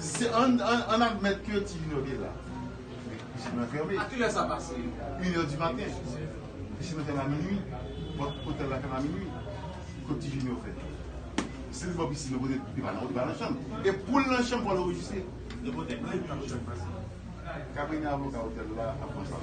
Se an an admèt ke ti Junior te la. Men pisin nan fèmen. A ki lè sa pase? Yn è di maten. Pisin nan fèmen a minui. Pòt otèl la fèmen a minui. Kot ti Junior fè? Si li bò pisin nan kote li pa nan li pa nan chanm. E poul nan chanm pwal anrejistre. Depi w te klè li pa nan chanm pase. Kabine avoka otèl la ap pran sa.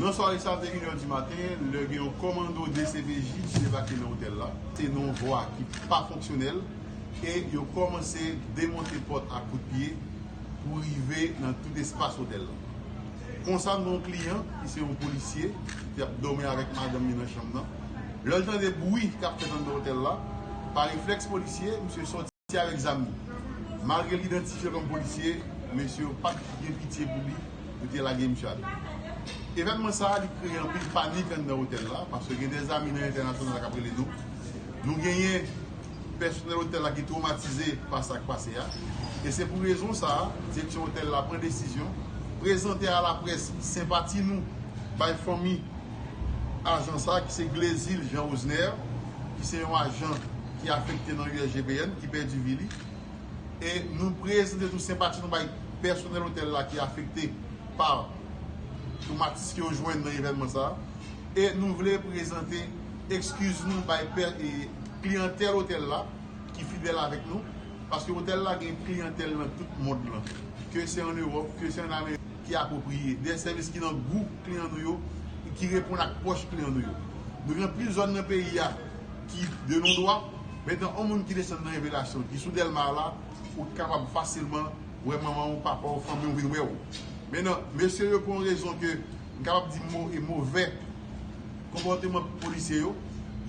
Nan sware sa te 1 è di maten lè gen yon kòmando dcpj ki debake nan otèl la, te nan yon vwa ki pa fonksyonèl e yo kòmanse demonte pòt ak kout pye pou rive nan tout espas otèl la. Konsa nan yon kliyan ki se yon polisye ki te ap dòmi avèk madanm li nan chanm nan, lè l tande bwi k ap fèt anndan otèl la, pa reflèks polisye, misye sòti. Se avèk zam li. Malgre l idantifye kòm polisye, mesye yo pat gen pitye pou li, yo te lage misye atè. Evènman sa a li kreye anpil panik anndan otèl la, paske gen de zami nan entènasyonal la k ap rele nou. Nou genyen pèsonèl otèl la ki twomatize pa sa k pase a. E se pou rezon sa a, direksyon otèl la pran desizyon prezante a laprès senpati nou bay fanmi ajan sa a ki se Glezil Jean Osner, ki se yon ajan. ki afekte nan USGBN ki pèdi vi li e nou prezante tou senpati nou bay pèsonèl otèl la ki afekte pa twomatis ke yo jwenn nan evènman sa a e nou vle prezante ekskiz nou bay kliyantèl otèl la ki fidèl avèk nou paske otèl la gen kliyantèl nan tout mond lan ke se an Ewòp, ke se an Amerik ki apwopriye, de sèvis ki nan gou kliyan nou yo e ki reponn ak pòch kliyan nou yo nou gen plis zòn nan peyi a. ki de non dwa. Metan on moun ki desann nan revelasyon ki sou delma a la ou t kapab fasilman wè manman w papa w fanmi w vin wè w men nan mesye yo pou on rezon ke m kapab di mo e movè konpòteman polisye yo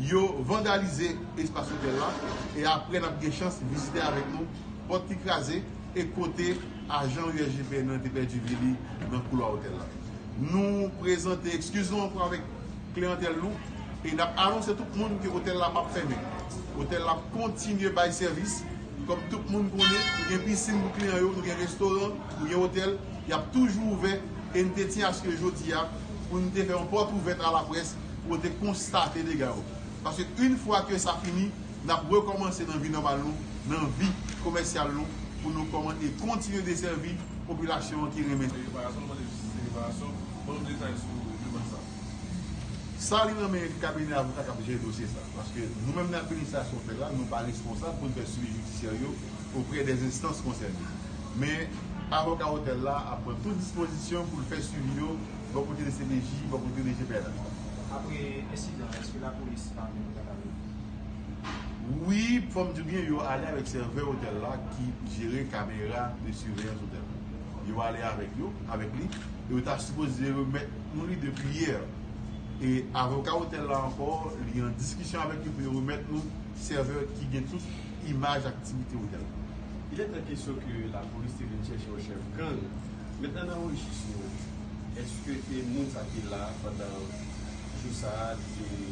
yo vandalize espas otèl la e aprè nap gen chans vizite avèk nou pòt ki kraze e kote ajan usgpn nan te pèdi vi li nan koulwa otèl la nou prezante ekskiz nou ankò avèk. Kliyantèl nou e n ap anonse tout moun ke otèl la pap fèmen. Otèl la ap kontinye bay sèvis. Kòm tout moun konnen, nou gen pisin pou kliyan yo, nou gen restoran, nou gen otèl, y ap toujou ouvè e n te tyen aske jodi a pou n te fè yon pòt ouvèt a laprès pou yo te konstate dega yo. Paske yn fwa ke sa fini, n ap rekòmanse nan vi nòmal nou, nan vi komèsyal nou pou nou kòman e kontinye desèvi popilasyon an ki renmen. Reparasyon, mwen mande jistis e reparasyon. Ban nou detay sou demann sa. Sa li nan men kabinè avoka k ap jere dosye sa. Paske nou menm nan administrasyon fè la, nou pa responsab pou n fè swivi jidisyè yo oprè dè enstans konsène. Men, avoka otèl la ap pran tout dispozisyon pou l fè swivi yo bò kote dcpj, bò kote dgpn ak. Apre ensidan an, èske lapolis pa menm pran nan redi? Wi, fò m di w byen, yo ale avèk sèvè otèl la ki jere kamera de siveyans otèl la. Yo ale avèk yo, avèk li, e yo ta sipoze remèt. yon lide priyè e avoka otèl la ankò li an diskisyon avèk yo pou yo remèt nou sèvè ki gen tout imaj aktivite otèl la. Il est en question ke lapolis te vin chèche yon chèf gang. Mentnan nan rejis nou, eske te moun sa te la pandan jou sa a li te.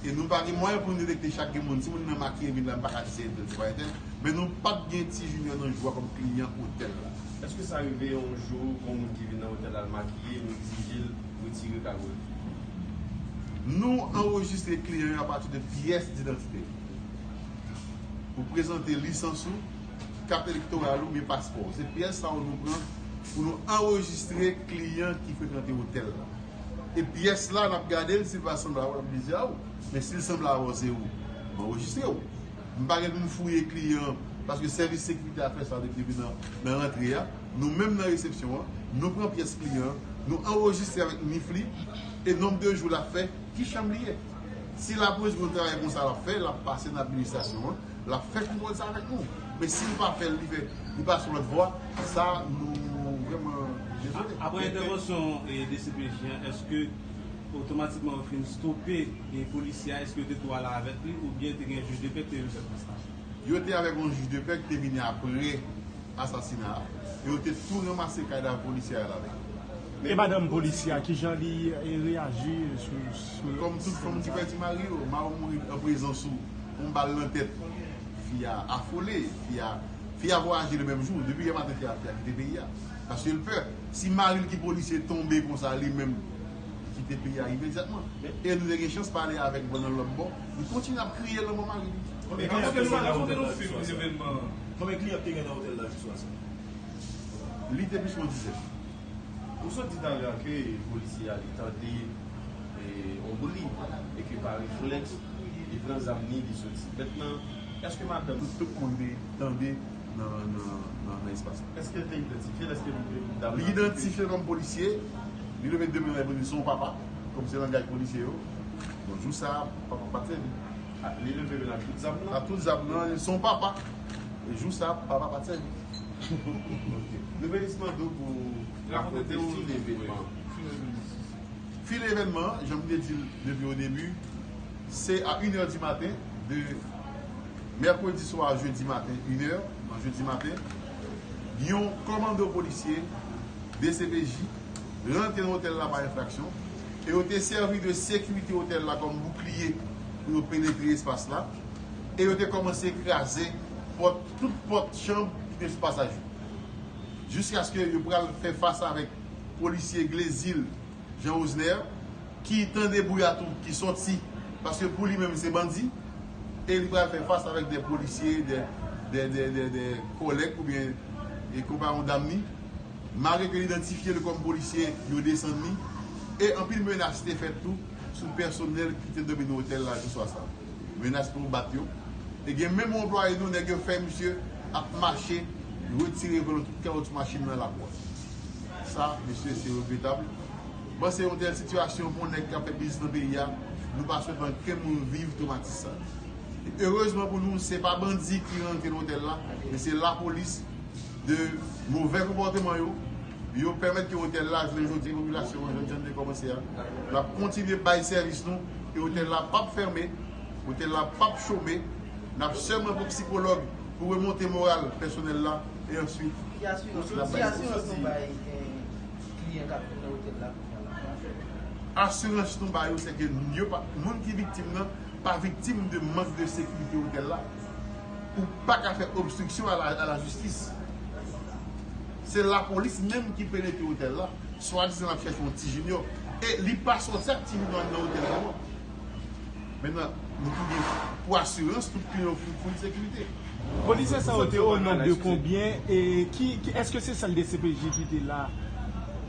E nou pa gen mwayen pou nou detekte chak gen moun. Si moun nan makiye vin la, m pa ka di se entèl, se pa entèl. Men nou pa t gen Ti Junior nan jou a kòm kliyan otèl la. Èske sa rive yon jou yon moun ki vin nan otèl la l makiye, nou egzije l retire kago l? Nou anrejistre kliyan yo apati de pyès didantite l. Ou prezante lisans ou, kat elektoral ou byen paspò w. Se pyès sa yo nou pran pou nou anrejistre kliyan ki frekante otèl la. E pyès la nap gadel sil pa sanble avèw lap dezi aw men sil sanble avèw se ou m anrejistrew m pa gen poum fouye kliyan an paske sèvis sekirite a fè sa depi nan rantre a nou menm nan resepsyon an nou pran pyès kliyan an nou anrejistre avèk nif li e nonb de jou lap fè ki chanm li ye si lapolis konn travay konsa lap fè lap pase nan administrasyon an. Lap fè pi bon sa vek nou. Men sil pa fèl li fè li pa sou lòt vwa sa nou vreman dezole. Aprè entèvansyon dcpj an eske otomatikman yo fin stope polisye a eske yo te tou ale avèk li oubyen te gen jij de pè ki te vin fè prestasyon? Yo te avèk yon jij de pè ki te vini aprè asasina a e yo te tou ranmase kadav polisye a al avèk li. E madanm polisye a kijan li reyaji sou. Kòm tout fanm ki pèdi mari yo, mari w mouri an prezans ou. yon bal nan tèt fi a afole fi a fi a vwayaje le menm jou depi yè maten fi a fi a kite peyi a paske l pè si mari l ki polisye tonbe konsa li menm li kite peyi a imedyatman e nou te gen chans pale avè l nan lòt bò li kontinye ap kriye lanmò mari li. Konbyen kliyan te gen nan otèl la jou swa sa? Konbyen kliyan te gen nan otèl la jou swa sa? Li te plis pran dizèt. Ou sot di talè a ke polisye a li tande yon bri e ke pa reflèks li pran zam ni li soti. Mèt nan, èske madanm. Tout moun te tande nan espas la? Èske li te idantifye l? Èske dam nan te. Li idantifye kòm polisye. Li leve de men l pou l di se yon papa, kòm se langaj polisye yo. Bon, jou sa a, papa pa t sèvi. Li leve men l ak tout zam nan? Ak tout zam nan. Se yon papa. E jou sa a, papa pa t sèvi. Nouvèlis mande w pou w rakonte fil evènman. Fil evènman, jan m te di l depi odebi, se a inè di maten de mèkredi swa a jedi maten, inè nan jedi maten, yon kòmando polisye, dcpj, rantre nan otèl la pa enfraksyon e yo te sèvi de sekirite otèl la kòm boukliye pou yo penetre espas la e yo te kòmanse kraze pòt Tout pòt chanb ki te sou pasaj yo. Jiskaske yo pral fè fas avèk polisye Glezil Jean Rosner ki tande bouya tou ki sòti paske pou li menm se bandi e li pral fè fas avèk de polisye de kòlèg oubyen e konpayon dam ni malgre ke yo idantifye l kòm polisye yo desann ni e anpil menas te fèt tou sou pèsonèl ki te domi nan otèl la jou swa sa. Menas pou yo bat yo. E gen menm yon anplwaye nou nèg yo fè misye ap mache retire volo tout kawotchou machin nan lakwa. Sa mesye se regretab. Bon se yon tèl sitiyasyon pou yon nèg kap fè biznis nan peyi a, nou pa swete ankenn moun viv twomatis sa. Erezman pou nou se pa bandi ki rantre nan otèl la men se lapolis. De movè konpòteman yo, yo pèmèt ke otèl la jwe jodi popilasyon an jan Jan te kòmanse a. L ap kontinye bay sèvis nou e otèl la p ap fèmen, otèl la p ap chome. N ap sèman pou psikològ pou remonte moral pèsonèl la e answit Ki asirans nou bay kliyan k ap vin nan otèl la kounya la a? Asirans nou ba yo se ke moun ki viktim nan pa viktim de mank de sekirite otèl la. ou paka fè obstruction à la justice se la police menm ki penetre hotel la swa dizan lap chèche yon ti junior e li pa sòti ak ti junior anndan hotel la non men nan pou assurance tout kliyan yo fout fout sécurité. Polisye sa yo te o non de konbyen e ki eske se sel dcpj ki te la.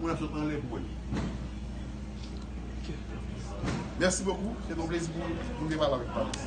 Moun ap sot anlè pou wè li. Merci beaucoup, se te yon plezi pou m te pale avèk Patricia.